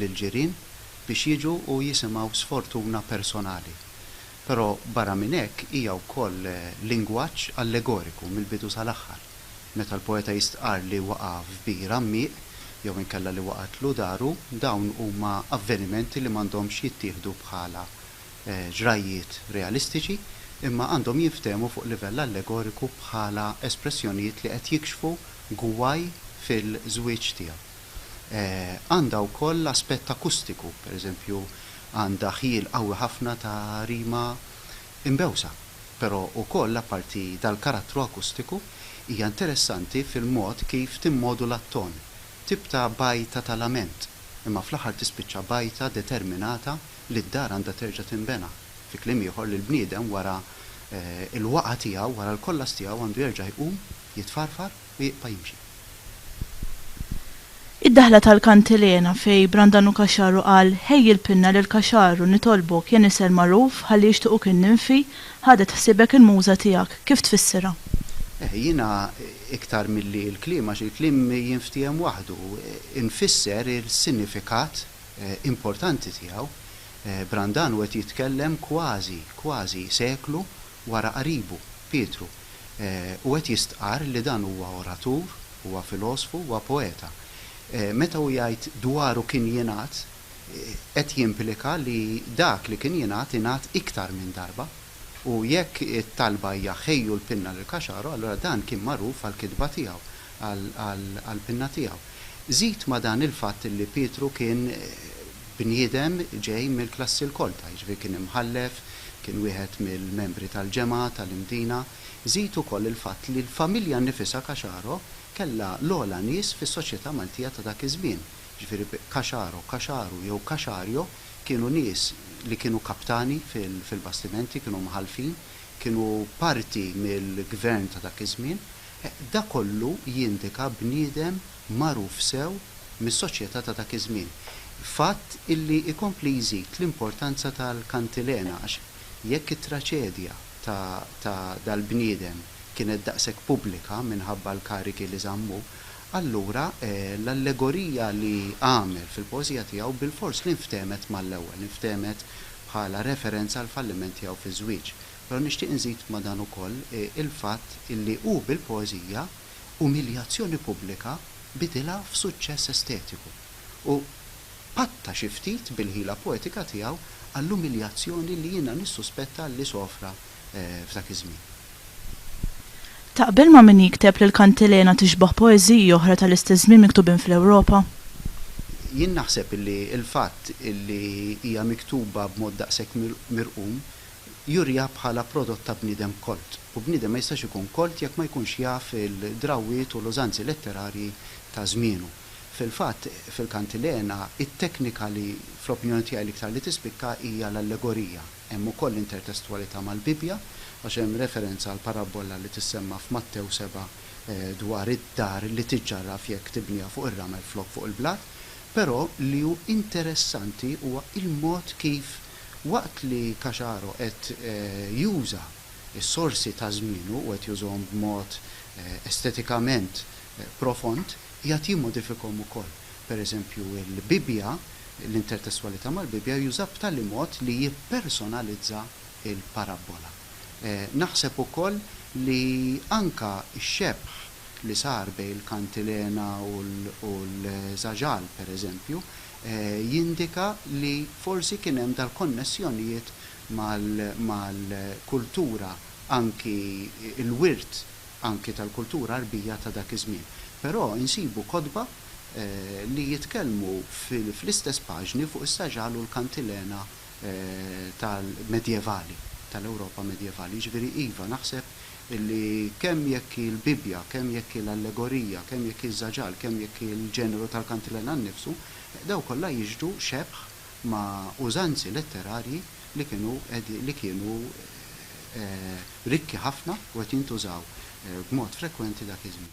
lill-ġirien biex jiġu u jisimgħu sfortuna personali. Però barra minn hekk hija wkoll lingwaġġ allegoriku mill-bidu sal-aħħar. Meta l-poeta jistqarr li waqa' f'bir għammiq jew inkella li waqgħetlu daru, dawn huma avvenimenti li m'għandhomx jittieħdu bħala ġrajjiet realistiċi imma għandhom jinftehmu fuq livell allegoriku bħala espressjonijiet li qed jikxfu gwaj fil-żwieġ tiegħu. Għandha wkoll aspett akustiku, pereżempju għandha ħjiel qawwi ħafna ta' rima imbewsa. Però wkoll apparti dal-karattru akustiku, hija interessanti fil-mod kif timmodula t-ton, tip ta' bgħajta ta' lament, imma fl-aħħar tispiċċa bgħajta determinata li d-dar għandha terġa' tinbena. Fi kliem ieħor, li l-bniedem wara l-waqgħa tiegħu, wara l-kollass tiegħu għandu jerġa' jqum, jitfarfar, u jibqa' jimxi. Id-daħla tal-kantilena fejn Brandanu Caxaru qal Ħej il-pinna lil Caxaru nitolbok ja nisel magħruf ħalli jixtiquk in-ninfi ħadet ħsiebek il-muża tiegħek, kif tfissirha? Eh, jiena iktar milli l-kliem għax il-kliem jinftiehem waħdu, infisser il-sinifikat importanti tiegħu. Brandanu qed jitkellem kważi, kważi seklu wara qaribu, Pietru, u qed jistqarr li dan huwa oratur, huwa filosfu, huwa poeta. Meta hu jgħid dwaru kien jingħad, qed jimplika li dak li kien jingħad ingħad iktar minn darba. U jekk it-talba hija ħejju l-pinna lil Caxaro, allura dan kien magħruf għall-kitba tiegħu. għall-pinna tiegħu. Żid ma' dan il-fatt li Pietru kien bniedem ġej mill-klassi l-kolta, jiġifieri kien imħallef, kien wieħed mill-membri tal-ġemgħa tal-Imdina, żid ukoll il-fatt li l-familja nnifisha Caxaro kellha l-ogħla nies fis-soċjetà Maltija ta' dak iż-żmien, jiġifieri Caxaro, Kaxaru jew Kaxario kienu nies li kienu kaptani fil-bastimenti, kienu mħallfin, kienu parti mill-gvern ta' dak iż-żmien, Dak kollu jindika bniedem magħruf sew mis-soċjetà ta' dak iż-żmien. Fatt illi jkompli jżid l-importanza tal-kantilena għax jekk it-traċedja ta' dal-bniedem kienet daqshekk pubblika minħabba l-karigi li żammu, allura l-allegorija li għamel fil-poeżija tiegħu bilfors li nftehmet mal-ewwel, nftehmet bħala referenza għall-falliment tiegħu fiż-żwieġ. Però nixtieq inżid ma' dan ukoll il-fatt illi hu bil-poeżija umiljazzjoni pubblika bidilha f'suċċess estetiku u patta xi ftit bil-ħila poetika tiegħu għall-umiljazzjoni li jiena nissuspetta li sofra f'dak iż-żmien. Taqbel ma' min jikteb li l-Kantilena tixbah poeżiji oħra tal-istess żmien miktubin fl-Ewropa? Jien naħseb illi l-fatt illi hija miktuba b'mod daqshekk mirqum juriha bħala prodott ta' bniedem kolt, u bniedem ma jistax ikun kolt jekk ma jkunx jaf il-drawwiet u l-użanzi letterarji ta' żmienu. Fil-fatt, fil-Kantilena, it-teknika li, fl-opinjoni tiegħi, l-iktar li tispikka hija l-allegorija. Hemm ukoll intertestwalità mal-Bibbja, għax hemm referenza għall-parabbola li tissemma f'Mattew seba' dwar id-dar li tiġġarraf jekk tibniha fuq ir-ramel flok fuq il-blat. Però li hu interessanti huwa l-mod kif, Waqt li Caxaro qed juża s-sorsi ta' żmienu u qed jużhom b'mod estetikament profond, qiegħed jimmodifikhom ukoll. Per eżempju, il-Bibbja, l-intertestwalità mal-Bibbja, juża b'tali mod li jippersonalizza l-parabbola. Naħseb ukoll li anke x-xebħ li sar bejn il-kantilena u l-żaġal, per eżempju, jindika li forsi kien hemm dal-konnessjonijiet mal-kultura anki l-wirt anki tal-kultura Għarbija ta' dak iż-żmien. Però insibu kotba li jitkellmu fl-istess paġni fuq is-saġal u l-kantilena tal-medjevali, tal-Ewropa medjevali. Jiġifieri iva, naħseb illi kemm jekk hi l-Bibbja, kemm jekk hi l-allegorija, kemm jekk hi ż-żaġal, kemm jekk hi l-ġeneru tal-kantilena nnifsu, dawn kollha jixhdu xebh ma' użanzi letterarji li kienu li kienu rikki ħafna u qed jintużaw b'mod frekwenti dak iż-żmien.